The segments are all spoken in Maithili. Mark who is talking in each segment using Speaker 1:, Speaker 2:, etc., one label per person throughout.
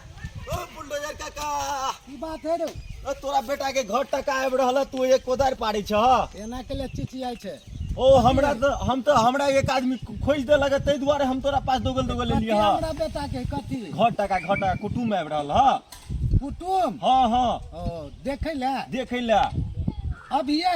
Speaker 1: बुलडोजर काका की बात है
Speaker 2: रे अ, तोरा बेटा के
Speaker 1: घर टका आबि रहल है, तू एक कोदारि पाड़े छ एना के लिए
Speaker 2: चिचियाई छै ओ हमरा त
Speaker 1: हम त हमरा एक आदमी खोज दे लगे ताहि दुआरे हम तोरा पास दोगल दोगल कथी लेलिए ह हमरा बेटा के
Speaker 2: कथी घर टका घर टका
Speaker 1: कुटुम आबि रहल ह कुटुम
Speaker 2: हाँ हाँ
Speaker 1: ओ देखे
Speaker 2: ले देखे ले अभिये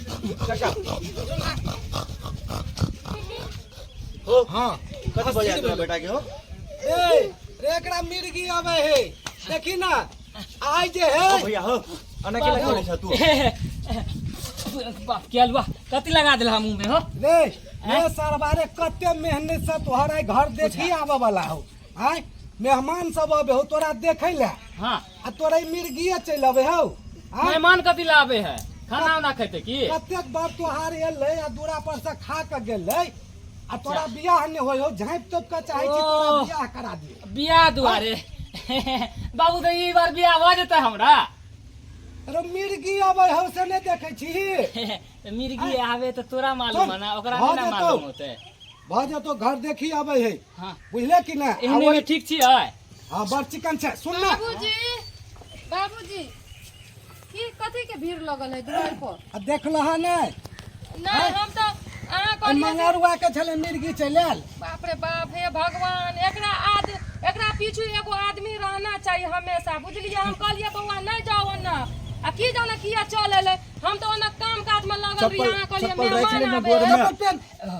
Speaker 1: हो हाँ कथी बजा तोरा बेटा के हो ए
Speaker 2: रे एकरा मिर्गी आवे हे देखी ना आइ जे हो हे भैया हो
Speaker 1: अना के लगा ले तू
Speaker 3: बाप क्या लुआ कति लगा दिला मुंह में हो ले ये
Speaker 2: सरबारे कते मेहनत से तोहरा घर देखी आवे वाला हो आय मेहमान सब आवे हो तोरा देखै ले हाँ आ तोरा
Speaker 3: ई मिर्गिए
Speaker 2: चलि अबै हौ आँय? मेहमान कथी
Speaker 3: ला आबे है खाना उना खेते की कतेक बार तोहार
Speaker 2: एलै आ दूरा पर से खा के गेलै आ तोरा जा। बियाह नहि होइ हौ झाँपि तोपि के चाहै छी तोरा ओह। बियाह करा दियै बियाह दुआरे
Speaker 3: बाबू तो ई बार बियाह भऽ जेतै हमरा अरे
Speaker 2: मिर्गी अबै हौ से नहि देखै छी तऽ मिर्गी
Speaker 3: आबे तऽ तोरा मालूम है ना ओकरा भऽ नहि ना जेतौ। मालूम होते भऽ जेतौ
Speaker 2: घर देखी अबै है हाँ बुझले कि
Speaker 3: नहि आ एहने
Speaker 2: ओहि- में ठीक छी है
Speaker 3: हां बड़ चिकन
Speaker 2: छै सुन ना बाबूजी
Speaker 4: बाबूजी की कथी के भीड़ लगल है दुआर पर आ देखल है ने
Speaker 2: ना हम तो अहाँ
Speaker 4: कहलियै जे- मंगरुआ
Speaker 2: के छले मिर्गी चल आयल बाप रे बाप हे
Speaker 4: भगवान एकरा आद एकरा पीछू एगो आदमी रहना चाहिए हमेशा बुझलिए हम कहलिए बौआ नहीं जाओ ओन्ना आ की जाने किया चल एले हम तो ओन्ना काम काज में लगल रही चप्पल- अहाँ कहलिए चप्पल राखि मेहमान लेने आबे गोड़ में। है। चप्पल पेन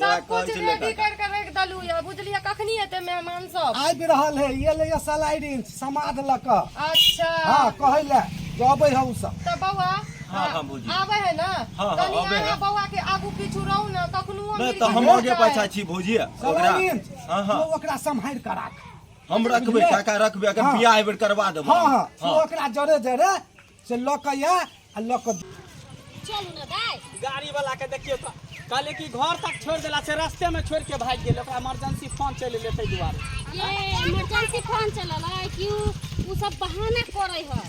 Speaker 2: सब कुछ
Speaker 4: रेडी कर के रख दलु या बुझलिए कखनी एते मेहमान सब आबि रहल है ये
Speaker 2: ले सलाइडिन समाद ल क अच्छा हां
Speaker 4: कहै ले जबै
Speaker 2: हौ सब त बौआ हां हां बुझी आबै
Speaker 4: है
Speaker 1: ना
Speaker 4: हां हां आबै है
Speaker 1: बौआ
Speaker 4: के
Speaker 1: आगू पीछू
Speaker 4: रहू ना कखनो हम त हम आगे
Speaker 1: पाछा छी भौजी ओकरा हां हां
Speaker 2: ओकरा
Speaker 1: संभाल के राख
Speaker 2: हम रखबे
Speaker 1: काका रखबे अगर बियाह एबेर करवा देबो हां हां ओकरा
Speaker 2: जरे जरे से लऽ कऽ या आ लऽ कऽ चलू
Speaker 4: ने दाय गाड़ी वाला के देखियो
Speaker 5: तो कहले कि घर तक छोड़ देला से रास्ते में छोड़ के भाग गेल ओकरा इमरजेंसी फोन चले ले ताहि दुआरे ये
Speaker 6: इमरजेंसी फोन चलल है कि उ उ सब बहाना करे है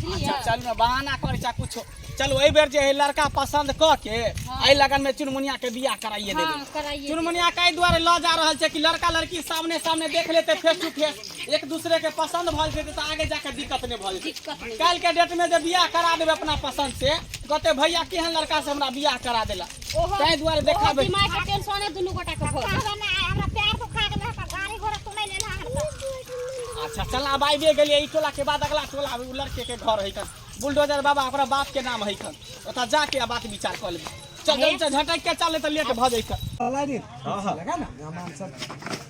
Speaker 6: बुझलिए अच्छा चल में बहाना
Speaker 5: करे चा कुछो चलो एहि बेर जे है लड़का पसंद क के एहि लगन में चुनमुनिया के बियाह कराइए हाँ, देबे कराइए चुनमुनिया के
Speaker 6: एहि दुआरे लऽ
Speaker 5: जा रहल छै कि लड़का लड़की सामने सामने देख लेते फेस टू फेस एक दूसरे के पसंद भ जेतै तऽ आगे जाके दिक्कत नहि भ जेतै दिक्कत नहि काल्हि के डेट
Speaker 6: में जे बियाह
Speaker 5: करा देबै अपना पसंद से कहते भैया केहन लड़का से हमरा बियाह करा देला ओहो ताहि दुआरे ओहो देखाबै दिमाग के टेंशन है
Speaker 6: दुनू गोटा के भऽ गेल। हमरा ना हमरा प्यार तो
Speaker 4: खा गेल हमरा गाड़ी घोड़ा तो नहीं लेना हमरा
Speaker 5: अच्छा चल आब आबिए गेलिए ई टोला के बाद अगला टोला आबे, उ लड़के के घर है कन बुलडोजर बाबा ओकरा बाप के नाम है कन ओतऽ जाके आ बात विचार कऽ लेबै चल जल्दी से झटक के चले तऽ लेट भऽ जैतै हाँ
Speaker 2: हाँ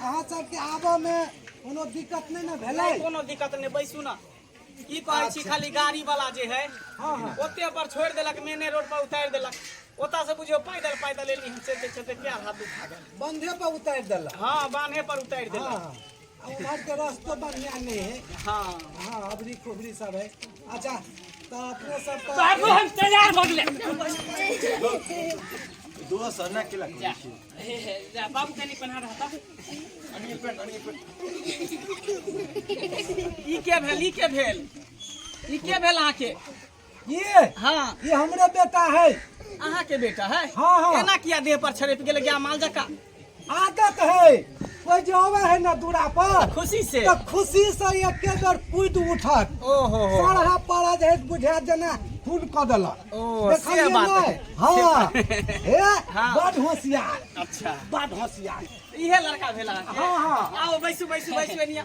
Speaker 2: अहाँ सबके आबऽ मे कोनो दिक्कत नहि ने भेलै नहीं कोनो दिक्कत नहीं बैसू
Speaker 5: ना की कहै छी खाली गाड़ी वाला जे है हाँ, हाँ। ओते
Speaker 2: पर छोड़ देलक
Speaker 5: मेने रोड पर उतार देलक ओता से बुझियो पैदल पैदल एली हम चलते चलते पैर हाथ दुखा गेल बंधे पर उतारि
Speaker 2: देलक हाँ बान्हे पर उतार
Speaker 5: देलक हाँ, हाँ।
Speaker 2: उम्हर
Speaker 5: के
Speaker 2: रास्तो बढ़िया नहीं है हाँ
Speaker 5: हाँ
Speaker 2: अबरी खुबरी सब है अच्छा तो अपने सब तो बाबू हम तैयार हो
Speaker 3: गए दोस्त अन्ना के लग जा
Speaker 1: जा
Speaker 3: बाबू कनी पना रहा था अन्नी पेट अन्नी
Speaker 5: पेट ई के भेल ई के भेल ई के भेल आके ई
Speaker 2: हाँ ई हमरे
Speaker 5: बेटा
Speaker 2: है अहाँ के बेटा
Speaker 5: है हाँ, हाँ। एना किया देह
Speaker 2: पर छड़प
Speaker 5: गेल गया माल जका आदत
Speaker 2: है कोई जो आवे है ना दूरा पर खुशी से तो खुशी
Speaker 5: से
Speaker 2: एक बेर कूद उठत ओ हो हो सारा
Speaker 5: पारा जे
Speaker 2: बुझा देना खून क देला ओ, से देखलियै बात नै? है।
Speaker 5: हाँ
Speaker 2: हे हाँ। बड
Speaker 5: होशियार
Speaker 2: अच्छा बड
Speaker 5: होशियार
Speaker 2: इहे लड़का भेला
Speaker 5: अहाँके? हाँ, हाँ। आओ
Speaker 2: बैसू बैसू बैसू
Speaker 5: एनिया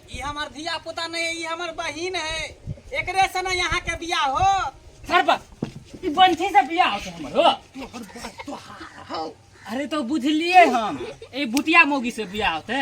Speaker 3: ई हमर धिया
Speaker 5: पुता नहीं है ई हमर बहिन है एकरे से ना यहाँ के बियाह हो सरबा
Speaker 3: ई बंठी से बियाह होते हमर हो तोहर बात तो हार हो अरे तो बुझलिए हम ए भुतिया मोगी से बियाह होते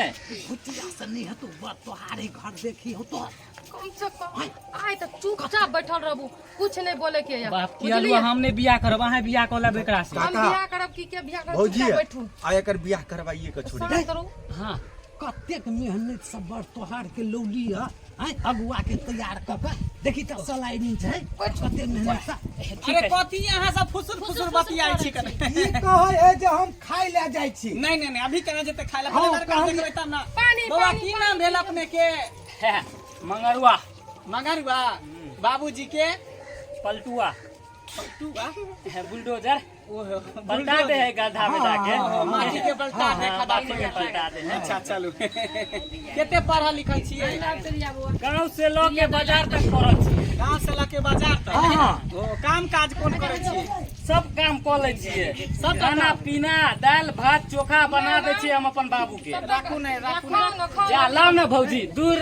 Speaker 3: भुतिया से नहीं है
Speaker 2: तो बात तो हारे घर देखी हो तो कम से कम
Speaker 4: आय तो चुपचाप बैठल रहबू कुछ नहीं बोले के है बाप की अलुआ हम ने
Speaker 3: बियाह करब अहाँ बियाह कऽ लेब एकरा से हम बियाह करब की के
Speaker 4: बियाह करब भौजी चुपचाप बैठू आ
Speaker 1: एकर
Speaker 4: बियाह करवाइए
Speaker 1: के छोड़ी करो हां
Speaker 3: कतेक
Speaker 2: मेहनत से बड़ तोहार के लौली है हैं अगुआ के तैयार क के देखी त सलाइनी छै कते मेहनत से अरे कथी यहाँ सब
Speaker 5: फुसुर फुसुर बतियाई छी कने ई कहै है
Speaker 2: जे हम खाय ले जाय छी नहीं नहीं नहीं अभी कने जेते
Speaker 5: खाय ले हाँ, पहिले लड़का कहली। देखबै तब ना पानी,
Speaker 2: बौआ
Speaker 5: पानी, की नाम
Speaker 4: भेल
Speaker 5: अपने के
Speaker 3: मंगरुआ मगरुआ
Speaker 5: बाबूजी के पलटुआ पलटुआ बुलडोजर पलटा दे है
Speaker 3: गड्ढा में जाके माटी के पलटा
Speaker 5: दे खदान माटी में पलटा
Speaker 3: दे है
Speaker 5: अच्छा
Speaker 3: चलू
Speaker 5: केते पढ़ल लिखल छियै गांव
Speaker 3: से लोग के बाजार तक पड़ल छी गांव से लऽ के बाजार
Speaker 5: तक ओ काम
Speaker 3: काज
Speaker 5: कोन करै छियै सब काम कऽ
Speaker 3: लै छियै सब खाना पीना दालि भात चोखा बना दै छियै हम अपन बाबू के राखू नहि राखू
Speaker 5: नहि जा लाओ
Speaker 4: ने
Speaker 5: भौजी
Speaker 3: दूर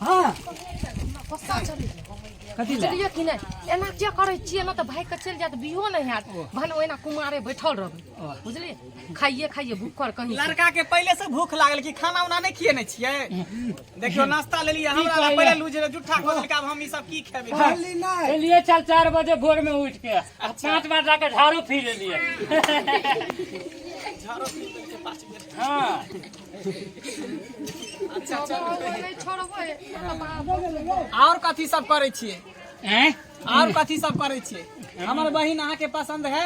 Speaker 4: हाँ कथी लए बुझलियै
Speaker 2: कि नहि एना
Speaker 4: किया करै छियै एना तऽ भागि कऽ चलि जायत बिहो नहि हैत भने ओहिना कुमारे बैठल रहबै बुझलियै खाइए खाइए भूखर कहीं लड़का के पहले से भूख
Speaker 5: लागल कि खाना उना नहीं खिए नहीं छिए देखियो नाश्ता ले लिए हमरा ला पहले लूज रे जुठा
Speaker 3: खोल
Speaker 5: के अब हम ई सब की खेबे खाली नहीं चलिए
Speaker 2: चल चार बजे
Speaker 3: भोर में उठ के अब पाँच बार जाकर झाड़ू फिर लिए
Speaker 5: झाड़ू पी के पाँच मिनट हाँ अच्छा
Speaker 4: और कथी सब करे
Speaker 5: छे हैं
Speaker 3: और कथी सब
Speaker 5: करे छे हमर बहिन अहा के पसंद है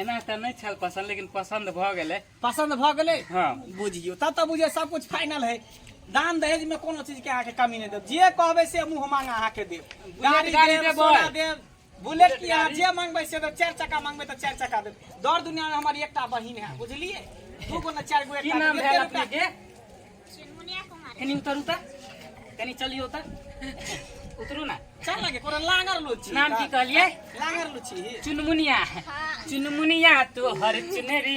Speaker 3: एना त नहीं छल पसंद लेकिन पसंद भ गेले पसंद भ गेले
Speaker 5: हां बुझियो
Speaker 3: तब त बुझे
Speaker 5: सब कुछ फाइनल है दान दहेज में कोनो चीज के आके कमी नहीं देव जे कहबे से मुंह मांगा आके देव गाड़ी गाड़ी देव सोना देव बुलेट की अहाँ जे मंगबै से चारि चक्का मंगबै तऽ चारि चक्का देब दौड़ दुनिया में हमारी एकटा बहिन है बुझलिए दू गो ने चारि गो एकटा नाम भेल अपने के चुनमुनिया
Speaker 3: कुमारी कनी उतरू तऽ कनी चलियो तऽ उतरू ना चल लगे कोनो लांगर
Speaker 5: लो छी नाम की कहलिए
Speaker 3: लांगर लो छी
Speaker 5: चुनमुनिया
Speaker 3: चुनमुनिया तो हर चुनरी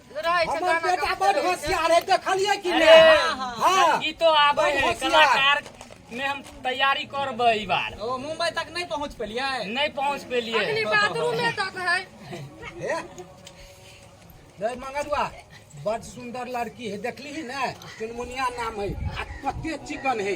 Speaker 4: रहै छै हमर गाना बेटा गाबैत बड़ रहै छै।
Speaker 2: होशियार है
Speaker 4: देखलिए
Speaker 2: कि अरे, नहीं हाँ, हाँ।
Speaker 3: हाँ
Speaker 2: गीतो आबै बड़ है
Speaker 3: होशियार। कलाकार
Speaker 2: में हम
Speaker 3: तैयारी करबै ई बार ओ मुंबई तक नहीं
Speaker 5: पहुंच पेलिए नहीं पहुंच पेलिए
Speaker 3: अखनी बाथरूम में तक
Speaker 4: है हे? रे
Speaker 2: मंगरुआ बड़ सुंदर लड़की है देखली ही ना चुनमुनिया नाम है आ कते चिकन है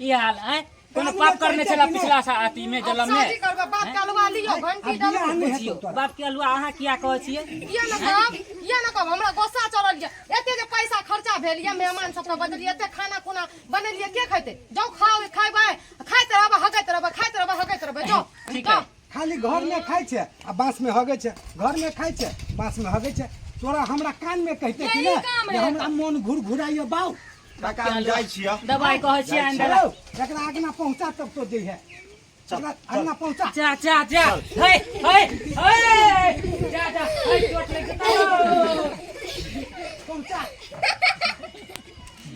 Speaker 3: ई हाल है कोनो पाप करने छला पिछला सा अथी में जलम में करबा बाप के अलवा
Speaker 4: लियो घंटी डाल बियाह नहि बुझियो हेतौ तोरा।
Speaker 2: बाप
Speaker 4: के
Speaker 2: अलुआ
Speaker 3: अहाँ
Speaker 2: किया
Speaker 3: कहै छियै ये न कहब
Speaker 4: ये न कहब हमरा गोस्सा चढ़ल ये एते जे पैसा खर्चा भेल ये मेहमान सबके बदलिए एते खाना खुना बनेलिए के खैते जाउ खाओ खाइबै खाइत रहबै हगैत रहबै खाइत रहबै हगैत रहबै जाउ ठीक है खाली
Speaker 3: घर में खाई
Speaker 2: छे आ बांस में हगे छे घर में खाई छे बांस में हगे छे तोरा हमरा कान में कहते कि ना जे हमरा मन घुर घुराइयो बाऊ काका हम जाइ
Speaker 1: छियै दवाई कहै छियै आनि
Speaker 3: देला चलो एकरा आगना पहुंचा
Speaker 2: तब तो जइहे एकरा आगना पहुंचा जा जा जा हे हे हे जा जा
Speaker 3: हे चोट लग गेल
Speaker 2: पहुंचा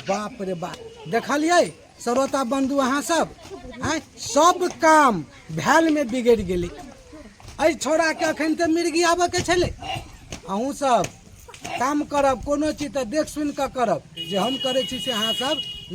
Speaker 2: बाप रे बाप देखलियै श्रोता बंधु अहाँ सब आँय सब काम भैलमे बिगड़ि गेलै एहि छोड़ाके अखन तऽ मिर्गी आबऽके छलै अहूँ सब काम करब कोनो चीज तऽ देख सुनि कऽ करब जे हम करै छी से अहाँ सब